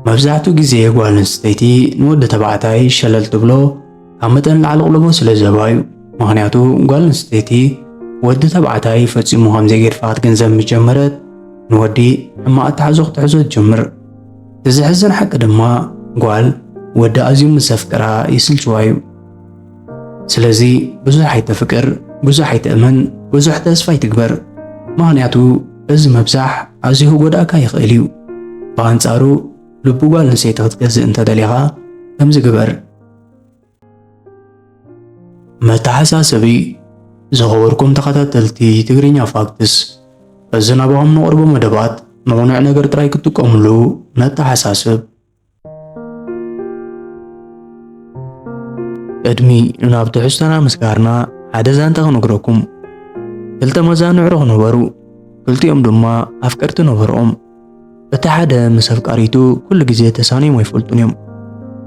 መብዛሕትኡ ግዜ ጓል ኣንስተይቲ ንወዲ ተባዕታይ ሸለል ትብሎ ካብ መጠን ላዕሊ ቕልቦ ስለ ዘባ እዩ። ምኽንያቱ ጓል ኣንስተይቲ ወዲ ተባዕታይ ፈጺሙ ከም ዘይገድፋ ክትግንዘብ ምስ ጀመረት ንወዲ ሕማቕ ኣተሓሕዞ ክትሕዞ ትጅምር። እቲ ዘሕዝን ሓቂ ድማ ጓል ወዲ ኣዝዩ ምስ ዘፍቅራ ይስልችዋ እዩ። ስለዚ ብዙሕ ኣይተፍቅር፣ ብዙሕ ኣይትእመን፣ ብዙሕ ተስፋ ኣይትግበር። ምኽንያቱ እዚ ምብዛሕ ኣዝዩ ክጎድኣካ ይኽእል እዩ። ብኣንጻሩ ልቢ ጓል ኣንስተይቲ ክትገዝእ እንተደሊኻ ከምዚ ግበር። መተሓሳሰቢ ዝኸበርኩም ተኸታተልቲ ትግርኛ ፋክትስ እዚ ናባኹም ነቕርቦ መደባት ንቕኑዕ ነገር ጥራይ ክትጥቀሙሉ ነተሓሳስብ። ቅድሚ ናብ ትሕዝቶና ምስጋርና ሓደ ዛንታ ክነግረኩም ክልተ መዛንዕሮ ክነበሩ ክልቲኦም ድማ ኣፍቀርቲ ነበርኦም እቲ ሓደ ምስ ኣፍቃሪቱ ኩሉ ግዜ ተሳንዮም ኣይፈልጡን እዮም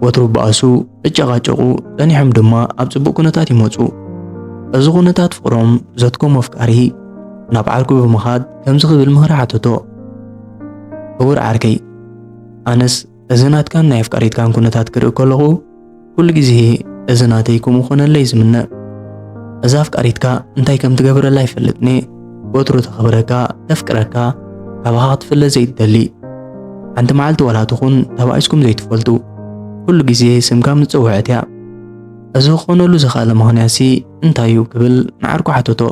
ወትሩ በኣሱ እጨቓጨቑ ጸኒሖም ድማ ኣብ ጽቡቕ ኩነታት ይመጹ እዚ ኩነታት ፍቕሮም ዘትኮም ኣፍቃሪ ናብ ዓርኩ ብምኻድ ከምዚ ክብል ምኽሪ ሓተቶ ክቡር ዓርከይ ኣነስ እዚ ናትካን ናይ ኣፍቃሪትካን ኩነታት ክርኢ ከለኹ ኩሉ ግዜ እዚ ናተይ ከምኡ ኮነለይ ዝምነ እዛ ኣፍቃሪትካ እንታይ ከም ትገብረላ ይፈልጥኒ ወትሩ ተኽብረካ ተፍቅረካ ካባኻ ክትፍለ ዘይትደሊ ሓንቲ መዓልቲ ዋላ ትኹን ተባኢስኩም ዘይትፈልጡ ኩሉ ግዜ ስምካ ምስ እያ እዚ ክኾነሉ ዝኽኣለ ምኽንያትሲ እንታይ እዩ ክብል ንዓርኩ ሓተቶ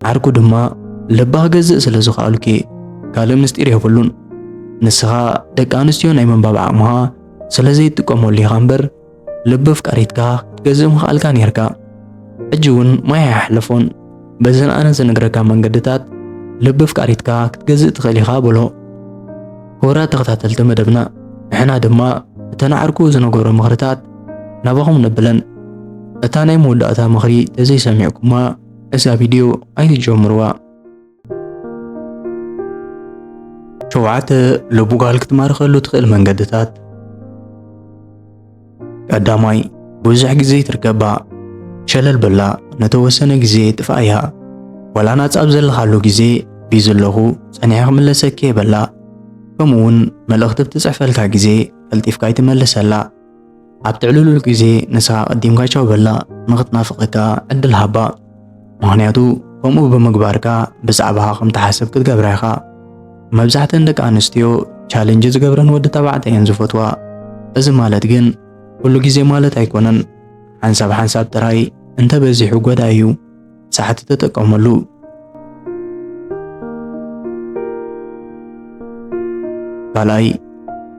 ዓርኩ ድማ ልባ ገዝእ ስለ ዝኸኣልኪ ካልእ ምስጢር የብሉን። ንስኻ ደቂ ኣንስትዮ ናይ ምንባብ ዓቕምኻ ስለ ዘይጥቀመሉ ኢኻ እምበር ልቢ ኣፍቃሪትካ ክትገዝእ ምኽኣልካ ኔርካ ሕጂ እውን ማይ ኣይሓለፎን በዘን ኣነ ዝነግረካ መንገድታት ልቢ ኣፍቃሪትካ ክትገዝእ ትኽእል ኢኻ በሎ ክቡራት ተኸታተልቲ መደብና ንሕና ድማ እተን ዓርኩ ዝነገሮ ምኽርታት ናባኹም ነብለን እታ ናይ መወዳእታ ምኽሪ ተዘይሰሚዕኩማ እዛ ቪድዮ ኣይትጀምርዋ ሸውዓተ ልቡጋል ክትማርኸሉ ትኽእል መንገድታት ቀዳማይ ብዙሕ ግዜ ትርከባ ሸለል በላ ነተወሰነ ግዜ ጥፍኣያ ወላ ናጻ ኣብ ዘለኻሉ ግዜ ቢዚ ኣለኹ ጸኒሐ ክምለሰኪ የበላ ከምኡውን መልእኽቲ ብትጽሕፈልካ ግዜ ቀልጢፍካ ኣይትመልሰላ ኣብ ትዕልሉል ግዜ ንሳ ቀዲምካ ቻው በላ ንኽትናፍቐካ ዕድል ሃባ ምኽንያቱ ከምኡ ብምግባርካ ብዛዕባኻ ከም ትሓስብ ክትገብራ ኢኻ መብዛሕተን ደቂ ኣንስትዮ ቻለንጅ ዝገብረን ወዲ ተባዕታይ እየን ዝፈትዋ እዚ ማለት ግን ኩሉ ግዜ ማለት ኣይኮነን ሓንሳብ ሓንሳብ ጥራይ እንተበዚሑ ጎዳኢ እዩ ሳሕቲ ተጠቀመሉ። ካልኣይ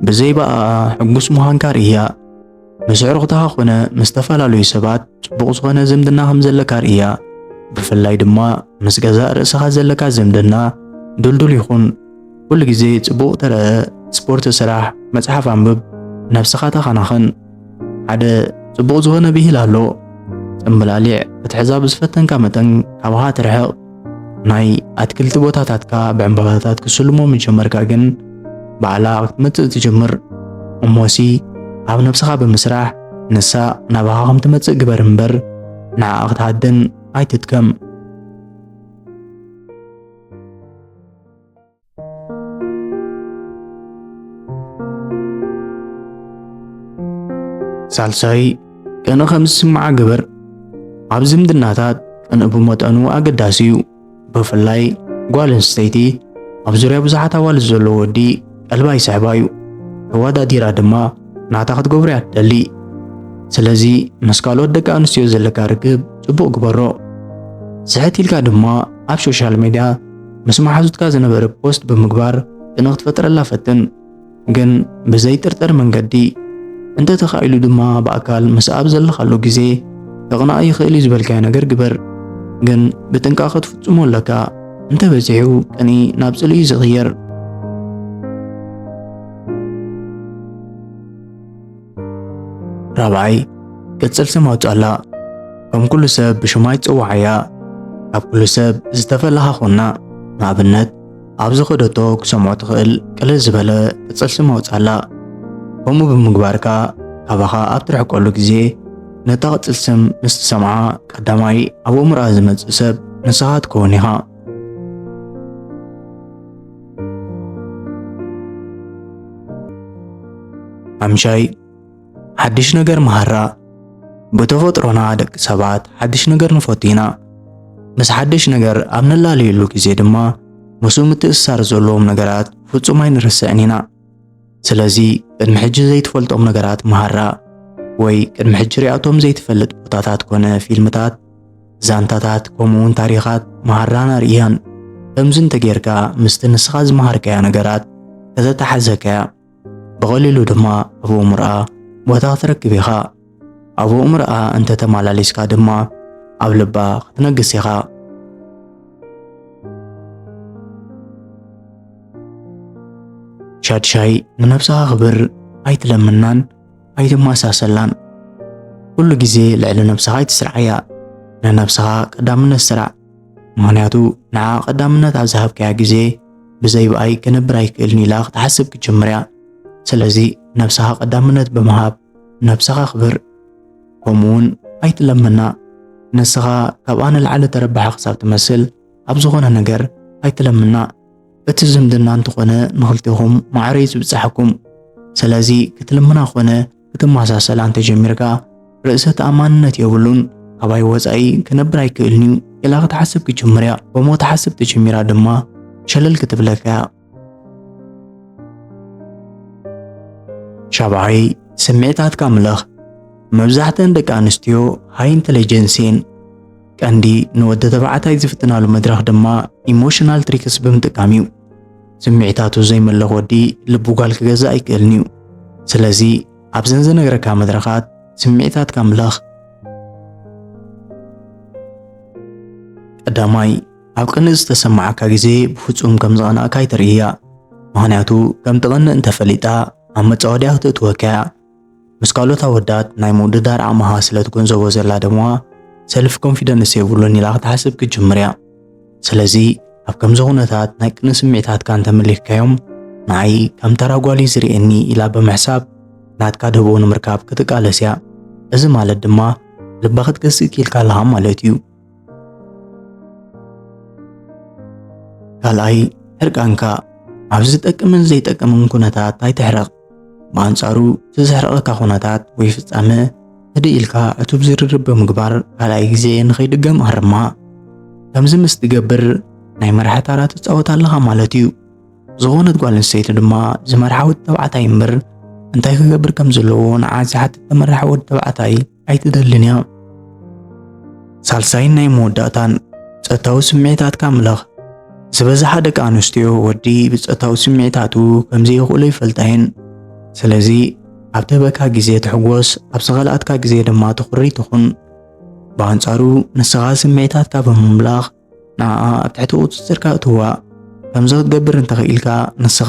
ብዘይ በኣኣ ሕጉስ ምዃንካ ርእያ። ምስ ኣዕሩኽትኻ ኾነ ምስ ዝተፈላለዩ ሰባት ጽቡቕ ዝኾነ ዝምድና ከም ዘለካ ርእያ። ብፍላይ ድማ ምስ ገዛእ ርእስኻ ዘለካ ዝምድና ድልዱል ይኹን። ኩሉ ግዜ ጽቡቕ ተረኣ፣ ስፖርት ስራሕ፣ መጽሓፍ ኣንብብ፣ ነብስኻ ተኸናኸን። ሓደ ጽቡቕ ዝኾነ ብሂል ኣሎ ጽምብላሊዕ ክትሕዛ ብዝፈተንካ መጠን ካብሃ ትርሕቕ ናይ ኣትክልቲ ቦታታትካ ብዕምባባታት ክስልሞ ምጀመርካ ግን ባዕላ ክትመጽእ ትጀምር እሞሲ ኣብ ነብስኻ ብምስራሕ ንሳ ናባኻ ከም ትመጽእ ግበር እምበር ንዓኣ ክትሃድን ኣይትትከም ሳልሳይ ቅነ ከም ዝስምዓ ግበር። ኣብ ዝምድናታት ቅነ ብመጠኑ ኣገዳሲ እዩ። ብፍላይ ጓል ኣንስተይቲ ኣብ ዙርያ ብዙሓት ኣዋልድ ዘሎ ወዲ ቀልባ ይስሕባ እዩ። ተወዳዲራ ድማ ናታ ክትገብሮ እያ ትደሊ። ስለዚ ምስ ካልኦት ደቂ ኣንስትዮ ዘለካ ርክብ ጽቡቕ ግበሮ። ስሕት ኢልካ ድማ ኣብ ሶሻል ሚድያ ምስ መሓዙትካ ዝነበረ ፖስት ብምግባር ቅነ ክትፈጥረላ ፈትን፣ ግን ብዘይጥርጠር መንገዲ እንተ ተኻኢሉ ድማ ብኣካል ምስ ኣብ ዘለኻሉ ግዜ ከቕንኣ ይኽእል እዩ ዝበልካዮ ነገር ግበር። ግን ብጥንቃቐ ትፍጽሞ ኣለካ። እንተ በዚሑ ቅኒ ናብ ጽልኢ እዩ ዝቕየር። ራብዓይ ቅጽል ስም ኣውጻላ ከም ኩሉ ሰብ ብሽማይ ጽዋዓያ ካብ ኩሉ ሰብ ዝተፈለኻ ኾና ንኣብነት ኣብ ዝኸደቶ ክሰምዖ ትኽእል ቅልል ዝበለ ቅጽል ስም ኣውጻላ ከምኡ ብምግባርካ ካባኻ ኣብ ትርሕቀሉ ግዜ ነታ ቅጽል ስም ምስ ትሰምዓ ቀዳማይ ኣብ ኣእምሮኣ ዝመጽእ ሰብ ንስኻ ትከውን ኢኻ ሓምሻይ ሓድሽ ነገር መሃራ ብተፈጥሮና ደቂ ሰባት ሓድሽ ነገር ንፈቱ ኢና። ምስ ሓድሽ ነገር ኣብ ንላለየሉ ግዜ ድማ ምስኡ ምትእስሳር ዘለዎም ነገራት ፍጹም ኣይንርስዕን ኢና። ስለዚ ቅድሚ ሕጂ ዘይትፈልጦም ነገራት መሃራ ወይ ቅድሚ ሕጂ ሪኣቶም ዘይትፈልጥ ቦታታት ኮነ ፊልምታት ዛንታታት ከምኡውን ታሪኻት መሃራን ኣርእያን ከምዚ እንተጌርካ ምስቲ ንስኻ ዝመሃርካዮ ነገራት ከተተሓዘካያ ብቐሊሉ ድማ ኣብ እሙርኣ ቦታ ክትረክብ ኢኻ ኣብ ኣእምሮኣ እንተ ተመላሊስካ ድማ ኣብ ልባ ክትነግስ ኢኻ። ሻድሻይ ንነብስኻ ክብር ኣይትለምናን ኣይትመሳሰላን። ኩሉ ግዜ ልዕሊ ነብስኻ ኣይትስርዓያ። ንነብስኻ ቀዳምነት ስራዕ። ምኽንያቱ ንዓ ቀዳምነት ኣብ ዝሃብካያ ግዜ ብዘይ ብኣይ ክነብር ኣይክእልን ኢላ ክትሓስብ ክትጅምር እያ። ስለዚ ነብስኻ ቀዳምነት ብምሃብ ነብስኻ ኣኽብር ከምኡ እውን ኣይትለመና ንስኻ ካብኣ ንላዕሊ ተረባሒ ክሳብ ትመስል ኣብ ዝኾነ ነገር ኣይትለምና እቲ ዝምድና እንተኾነ ንኽልቴኹም ማዕረ እዩ ዝብጽሓኩም ስለዚ ክትልምና ኮነ ክትመሳሰል እንተጀሚርካ ርእሰ ተኣማንነት የብሉን ካባይ ወፃኢ ክነብር ኣይክእልን እዩ ኢላ ክትሓስብ ክጅምር እያ ከምኡ ክትሓስብ ተጀሚራ ድማ ሸለል ክትብለካ እያ ሻብዓይ ስምዒታትካ ምለኽ መብዛሕተን ደቂ ኣንስትዮ ሃይ ኢንተለጀንስ እየን። ቀንዲ ንወዲ ተባዕታይ ዝፍትናሉ መድረኽ ድማ ኢሞሽናል ትሪክስ ብምጥቃም እዩ። ስምዒታቱ ዘይመለኽ ወዲ ልቡ ጓል ክገዛእ ኣይክእልን እዩ። ስለዚ ኣብዘን ዝነግረካ መድረኻት ስምዒታትካ ምለኽ። ቀዳማይ ኣብ ቅንእ ዝተሰማዓካ ግዜ ብፍጹም ከም ዝቐናእካ ኣይተርእያ። ምኽንያቱ ከም ትቐንእ እንተፈሊጣ ኣብ መጻወድያ ክትእትወካ እያ። ምስ ካልኦት ኣወዳት ናይ ምውድዳር ዓቕምኻ ስለ ትገንዘቦ ዘላ ድማ ሰልፍ ኮንፊደንስ የብሉን ኢላ ክትሓስብ ክትጅምር እያ። ስለዚ ኣብ ከምዚ ኩነታት ናይ ቅንእ ስምዒታትካ እንተመሊክካዮም ንዓይ ከም ተራ ጓል እዩ ዝርእየኒ ኢላ ብምሕሳብ ናትካ ደቦ ንምርካብ ክትቃለስ እያ። እዚ ማለት ድማ ልባ ክትገዝእ ክኢልካ ኣለኻ ማለት እዩ። ካልኣይ ሕርቃንካ ኣብ ዝጠቅምን ዘይጠቅምን ኩነታት ኣይትሕረቕ። ብኣንጻሩ እቲ ዘሕረቐካ ኩነታት ወይ ፍጻመ ህድእ ኢልካ ዕቱብ ዝርርብ ብምግባር ካልኣይ ግዜ ንኸይድገም ኣርማ። ከምዚ ምስ ትገብር ናይ መርሓ ታራ ትጻወት ኣለኻ ማለት እዩ። ዝኾነት ጓል ኣንስተይቲ ድማ ዝመርሓ ወዲ ተባዕታይ እምበር እንታይ ክገብር ከም ዘለዎ ንዓ ዝሓትት ተመራሕ ወዲ ተባዕታይ ኣይትደልን እያ። ሳልሳይን ናይ መወዳእታን ጸታዊ ስምዒታትካ ምለኽ ዝበዝሓ ደቂ ኣንስትዮ ወዲ ብጸታዊ ስምዒታቱ ከምዘይኽእሎ ይፈልጣ እየን። ስለዚ ኣብ ተበካ ግዜ ትሕጎስ፣ ኣብ ዝኸልኣትካ ግዜ ድማ ትኹሪ ትኹን። ብኣንጻሩ ንስኻ ስምዒታትካ ብምምላኽ ንዓኣ ኣብ ትሕቲ ቁጽጽርካ እትዋ ከምዚ ክትገብር እንተኽኢልካ ንስኻ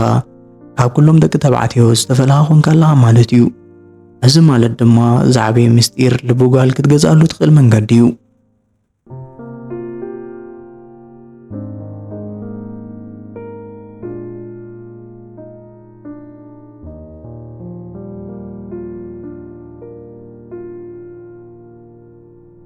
ካብ ኩሎም ደቂ ተባዕትዮ ዝተፈለኻ ኮንካ ኣለኻ ማለት እዩ። እዚ ማለት ድማ ዝዓበየ ምስጢር ልቢ ጓል ክትገዝኣሉ ትኽእል መንገዲ እዩ።